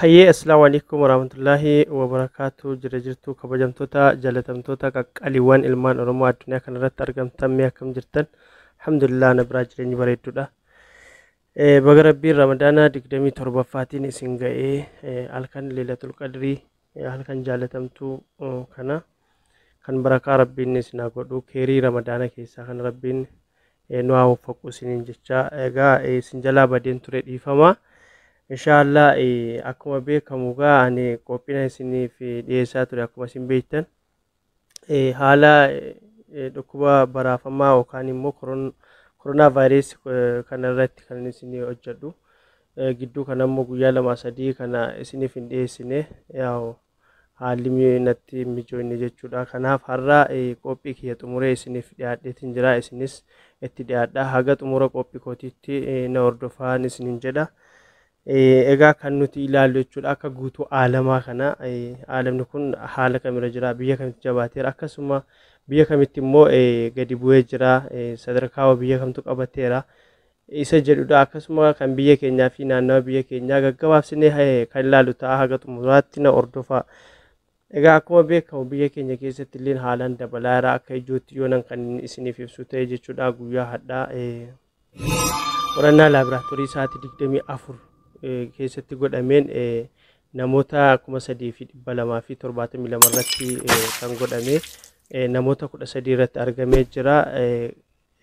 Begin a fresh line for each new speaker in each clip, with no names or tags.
hayyee assalaamu alaikum warahmatullaahi wabarakaatu jira jirtuu kabajamtoota jaalatamtoota qaqqaliiwwan ilmaan oromoo addunyaa kanarratti argamtan mee akkam jirtan alhamdulillah na biraa jireenyi bareedduudha Eh, Baga Rabbiin Ramadaana 27ffaatiin isin ga'ee eh, halkan Leelatul Qadrii eh, halkan jaalatamtuu eh, kana kan barakaa Rabbiin isin haa godhu keerii Ramadaana keessaa kan Rabbiin eh, nu haa waffaqu isiniin jecha egaa eh, isin jalaa badeen ture dhiifama. Inshaallah eh, akkuma beekamu egaa ani qophina isiniif eh, dhiyeessaa ture akkuma isin beektan. eh, haala eh, dhukkuba baraafamaa yookaan immoo koron- koronaa vaayirees eh, kana irratti kan isin hojjedhu Eh, gidduu kana immoo guyyaa lama sadii kana isiniif hin dhiyeessine yaa'u haalli mi- natti hin mijoofne jechuudha kanaaf har'a eh, qophii kiyya xumuree isiniif dhiyaadheetiin jira isinis itti dhiyaadha haga xumura qophii kootiitti eh, na hordofaa isiniin jedha Egaa kan nuti ilaallu jechuudha akka guutuu aalamaa kana aalamni kun haala kamira jira biyya kamitti jabaateera akkasuma biyya kamitti immoo gadi bu'ee jira sadarkaa biyya kamtu qabateera isa jedhudha akkasuma kan biyya keenyaa fi naannawa biyya keenyaa gaggabaabsinee kan ilaallu ta'a haga xumuraatti na hordofaa. Egaa akkuma beekamu biyya keenya keessatti illee haalaan dabalaa jira akka ijootti yoo nan kan isiniif ibsu ta'e jechuudha guyyaa hadhaa Qorannaa laaboraatoorii sa'aatii 24 eh, keessatti godhameen eh, namoota 3,272 irratti eh, kan godhame eh, namoota 13 irratti argamee jira. Eh,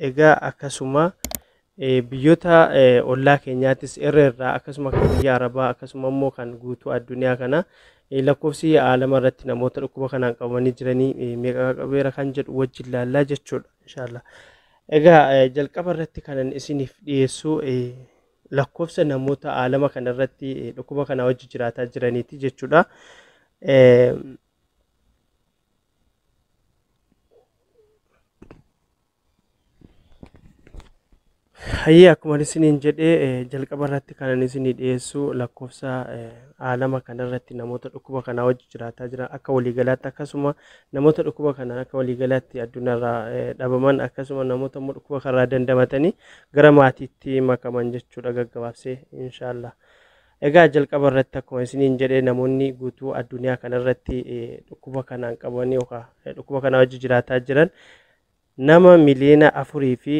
Egaa akkasuma eh, biyyoota eh, ollaa keenyaattis irra irraa akkasuma kan biyya Arabaa akkasuma immoo kan guutuu addunyaa kana eh, lakkoofsi aalama irratti namoota dhukkuba kanaan qabamanii jiranii eh, meeqa qabeera kan jedhu wajjin laallaa jechuudha. Inshaallah. Egaa jalqaba irratti kanan isiniif dhiyeessu lakkoofsa namoota aalama kana irratti dhukkuba kana wajji jiraataa jiraniiti jechuudha. Hayyee akkuma isiniin jedhee jalqaba irratti kanan isinii dhiyeessu lakkoofsa aalama kana irratti namoota dhukkuba kanaa wajji jiraataa jiran akka waliigalaatti akkasuma Namoota dhukkuba kanaan akka waliigalaatti addunyaarraa dhabaman akkasuma namoota immoo dhukkuba kanarraa dandamatanii gara maatiitti makaman jechuudha gaggabaabsee inshaallah. Egaa jalqaba irratti akkuma isiniin jedhe namoonni guutuu addunyaa kanarratti dhukkuba kanaan qabanii yookaan dhukkuba kanaa wajji jiraataa jiran nama miliyoona afurii fi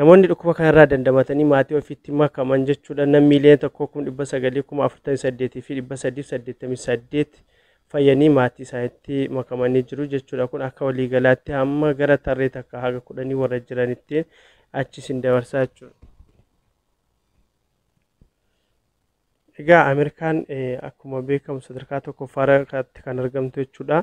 Namoonni dhukkuba kanarraa dandamatanii maatii ofiitti makaman jechuudhaan nam miiliyoona tokkoo kuma dhibba sagalii kuma afurtamii saddeetii fi dhibba sadiif saddeettamii saddeet fayyanii maatii isaaniitti makamanii jiru jechuudha. Kun akka waliigalaatti hamma gara tarree takka haga kudhanii warra jiranittiin achi isin dabarsaa jechuudha. Egaa Ameerikaan akkuma beekamu sadarkaa tokkoffaarratti kan argamtu jechuudha.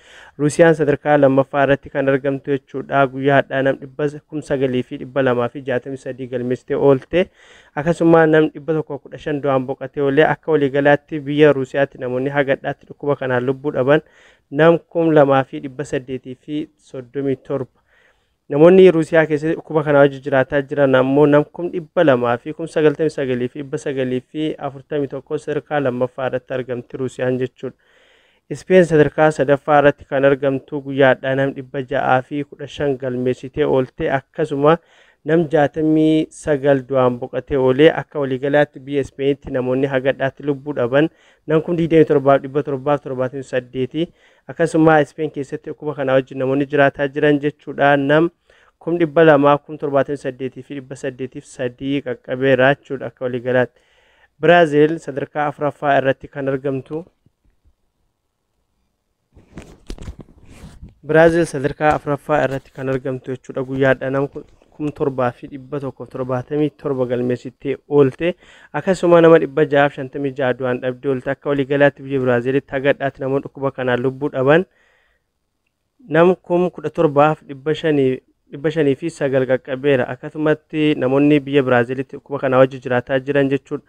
Ruusiyaan sadarkaa lammaffaa irratti kan argamtu jechuudha. Guyyaa hadhaa nam dhibba kum sagalii fi dhibba lamaa fi jaatamii sadii galmeessitee oolte. Akkasuma nam dhibba tokko kudha shan du'aan boqatee oolee akka waliigalaatti biyya Ruusiyaatti namoonni hagadhaatti dhukkuba kanaan lubbuu dhaban nam kum lamaa fi dhibba saddeetii fi soddomii torba. Namoonni Ruusiyaa keessatti dhukkuba kanaa wajjin jiraataa jiran ammoo nam kum dhibba lamaa fi kum sagaltamii sagalii fi dhibba sagalii fi afurtamii tokko sadarkaa lammaffaa irratti argamti Ruusiyaan jechuudha. Ispeen sadarkaa sadaffaa irratti kan argamtu guyyaa hadhaa nam dhibba ja'aa fi kudha shan galmeessitee oolte akkasuma nam jaatamii sagal du'aan boqatee oolee akka waliigalaatti biyya Ispeenitti namoonni hagadhaatti lubbuu dhaban nam kum digdamii torbaaf dhibba torbaaf torbaatamii saddeeti. Akkasuma Ispeen keessatti dhukkuba kanaa wajjin namoonni jiraataa jiran jechuudha nam kum dhibba lamaa kum torbaatamii saddeetii fi dhibba saddeetiif sadii qaqqabeera jechuudha akka waliigalaatti. Biraazil sadarkaa afuraffaa irratti kan argamtu. Biraazil sadarkaa afuraffaa irratti kan argamtu jechuudha guyyaadha nam 7,177 galmeessittee oolte. Akkasuma nama 656 du'aan dhabdee oolte. Akka waliigalaatti biyya Biraaziilitti haga har'aatti namoonni dhukkuba kanaan lubbuu dhaban nam kum 17,509 qaqqabeera. Akkasumatti namoonni biyya Biraaziilitti dhukkuba kanaa wajji jiraataa jiran jechuudha.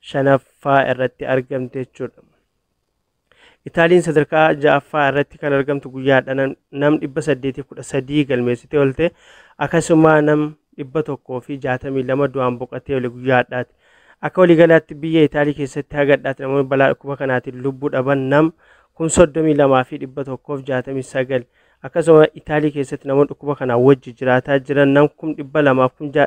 shanaffaa irratti argamte jechuudha. Itaaliin sadarkaa ja'affaa irratti kan argamtu guyyaadha nam- nam 813 galmeessitee oolte akkasuma nam 162 du'aan boqatee oole guyyaadhaati. Akka waliigalaatti biyya Itaalii keessatti hagadhaatti namoonni balaa dhukkuba kanaatiin lubbuu dhaban nam 32,169 akkasuma Itaalii keessatti namoonni dhukkuba kanaa wajji jiraataa jiran nam 200,000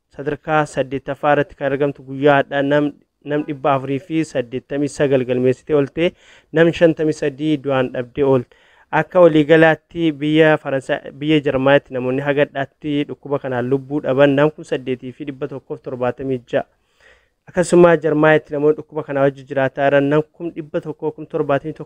Sadarkaa 8ffaa irratti kan argamtu guyyaa hadhaa nam nam 489 galmeessitee oolte nam 53 du'aan dhabdee oolte. Akka waliigalaatti biyya Faransaay biyya Jarmanitti namoonni hagadhaatti dhukkuba kanaan lubbuu dhaban nam 8176. Akkasuma Jarmanitti namoonni dhukkuba kanaa wajji jiraataa jiran nam 171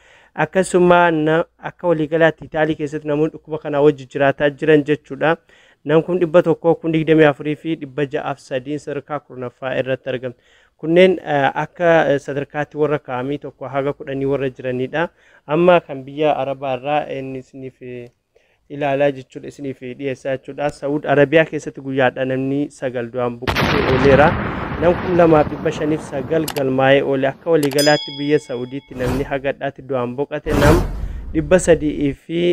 Akkasuma na- akka waliigalaatti Itaalii keessatti namoonni dhukkuba kanaa wajji jiraataa jiran jechuudha. Nam kum dhibba tokkoo kun digdamii afurii fi dhibba ja'aaf sadiin sadarkaa kurnaffaa irratti argamu. Kunneen eh, akka eh, sadarkaatti warra kaa'amii tokko haga kudhanii warra jiranidha. Amma kan biyya Arabaa irraa inni isiniif eh, ilaalaa jechuudha isiniif dhiyeessaa jechuudha. Saud Arabiyaa keessatti guyyaadha namni sagal du'aan buqqisee ooleera. Nam kun lamaaf dhibba shaniif sagal galmaa'ee oole akka waliigalaatti biyya Saudiitti namni hagadhaatti du'aan boqate nam dhibba sadii fi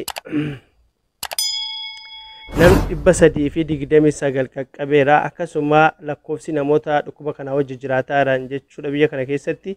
nam dhibba sadii fi digdamii sagal qaqqabeera akkasuma lakkoofsi namoota dhukkuba kana wajji jiraataa jiran jechuudha biyya kana keessatti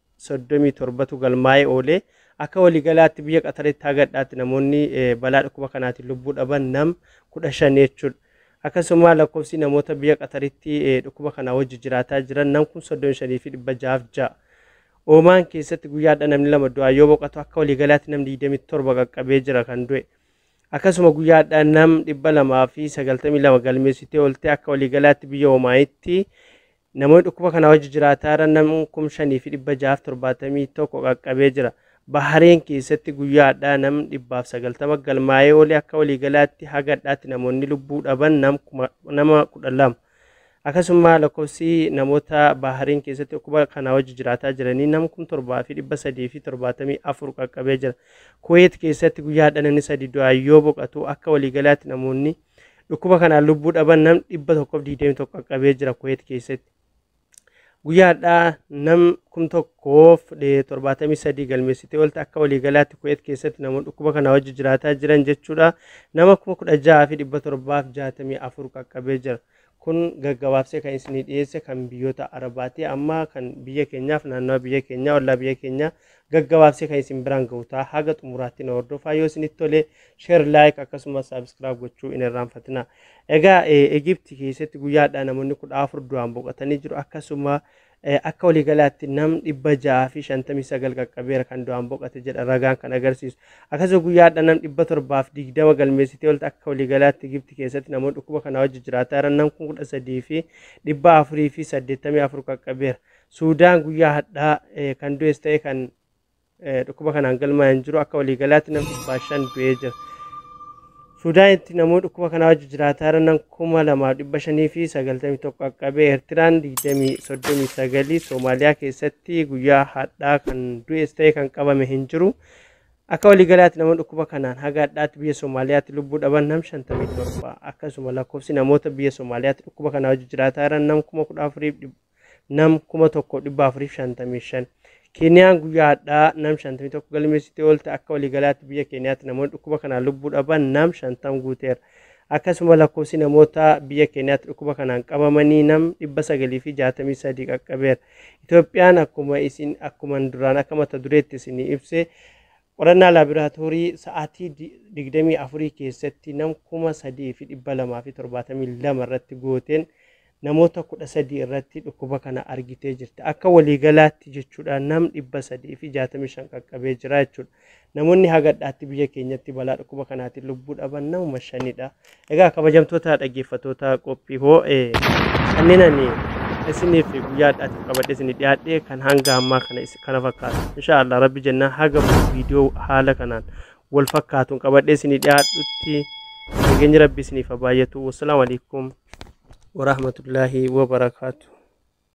37tu galmaa'ee oole. Akka waliigalaatti biyya Qataritti haga dhadhaatti namoonni balaa dhukkuba kanaatiin lubbuu dhaban nam 15 jechuudha. Akkasuma lakkoofsi namoota biyya Qataritti dhukkuba kanaa wajji jiraataa jiran nam 35,606. Oomaan keessatti guyyaa har'a namni lama du'aa yoo boqatu akka waliigalaatti nam 27 qaqqabee jira kan du'e. Akkasuma guyyaa har'a nam 292 galmeessitee oolte akka waliigalaatti biyya Oomaanitti Namoonni dhukkuba kanaa wajji jiraataa irra nam kum 5 fi 671 qaqqabee jira. Bahareen keessatti guyyaa hadhaa nam 190 galmaa'ee oole akka waliigalaatti haga hadhaatti namoonni lubbuu dhaban nam kuma nama 12. Akkasummaa lakkoofsi namoota Bahareen keessatti dhukkuba kanaa wajji jiraataa jiranii nam kum 7 fi 374 qaqqabee jira. Kuweet keessatti guyyaa hadhaa namni sadi du'aa yoo boqatu akka waliigalaatti namoonni Dhukkuba kanaan lubbuu dhaban nam 121 qaqqabee jira Kuweet keessatti. Guyyaa har'aa nam 1073 galmeessitee oolti akka waliigalaatti Kuweet keessatti namoonni dhukkuba kanaa wajji jiraataa jiran jechuudha. Nama 16,764 qaqqabee jira. Kun gaggabaabsee kan isinii dhiyeesse kan biyyoota Arabaati. Amma kan biyya keenyaaf naannawa biyya keenyaa ollaa biyya keenyaa gaggabaabsee kan isin biraan gahu ta'a. Haga xumuraatti na hordofaa yoo isinitti tole share like akkasumas subscribe gochuu hin irraanfatina. Egaa Egiipti keessatti guyyaadhaa namoonni kudha afur du'aan boqotanii jiru akkasuma Akka waliigalaatti nam 659 qaqqabeera kan du'aan boqate jedha ragaan kan agarsiisu. Akkasuma guyyaa hadha nam 720 galmeessitee olta akka waliigalaatti Gibti keessatti namoonni dhukkuba kanaa wajji jiraataa jiran nam 13 fi 484 qaqqabeera. Suudaan guyyaa hadhaa kan du'es ta'e kan Dhukkuba kanaan galmaa'e hin jiru. Akka waliigalaatti nam dhibbaa shan du'ee jira. Suudaanitti namoota dhukkuba kanaa wajji jiraataa jiran kuma lamaaf dhibba shanii fi sagaltamii tokko qaqqabe. Eertiraan digdamii soddomii sagalii Soomaaliyaa keessatti guyyaa hadhaa kan du'es ta'e kan qabame hin jiru. Akka waliigalaatti namoonni dhukkuba kanaan haga hadhaatti biyya Soomaaliyaatti lubbuu dhaban nam shantamii torba. Akkasuma lakkoofsi namoota biyya Soomaaliyaatti dhukkuba kanaa wajji jiraataa jiran nam kuma kudha afuriif nam 1455. Keeniyaan guyyaa hadhaa nam 51 galmeessitee oolte akka waliigalaatti biyya Keeniyaatti namoonni dhukkuba kanaan lubbuu dhaban nam 50 guuteera. Akkasuma lakkoofsi namoota biyya Keeniyaatti dhukkuba kanaan qabamanii nam 963 qaqqabeera. Itoophiyaan akkuma isin akkuman duraan akka mata dureetti isinii ibse Qorannaa laaboraatoorii sa'aatii 24 keessatti nam 3,272 irratti gooteen namoota 13 irratti dhukkuba kana argitee jirti. Akka waliigalaatti jechuudha nam 365 qaqqabee jira jechuudha. Namoonni hagadhaatti biyya keenyatti balaa dhukkuba kanaatiin lubbuu dhaban namuma shanidha. Egaa kabajamtoota dhaggeeffattoota qophii hoo kanneen ani isiniif guyyaa addaatiif qabadhee isinii dhiyaadhee kan hanga ammaa kana is- kana fakkaatu. Insha Allah rabbi jennaa haga viidiyoo haala kanaan wal fakkaatuun qabadhee isinii dhiyaadhutti nageenyi rabbi isiniif haa baay'atu. Wassalaamu alaikum warahmatullaahi wabarakaatu.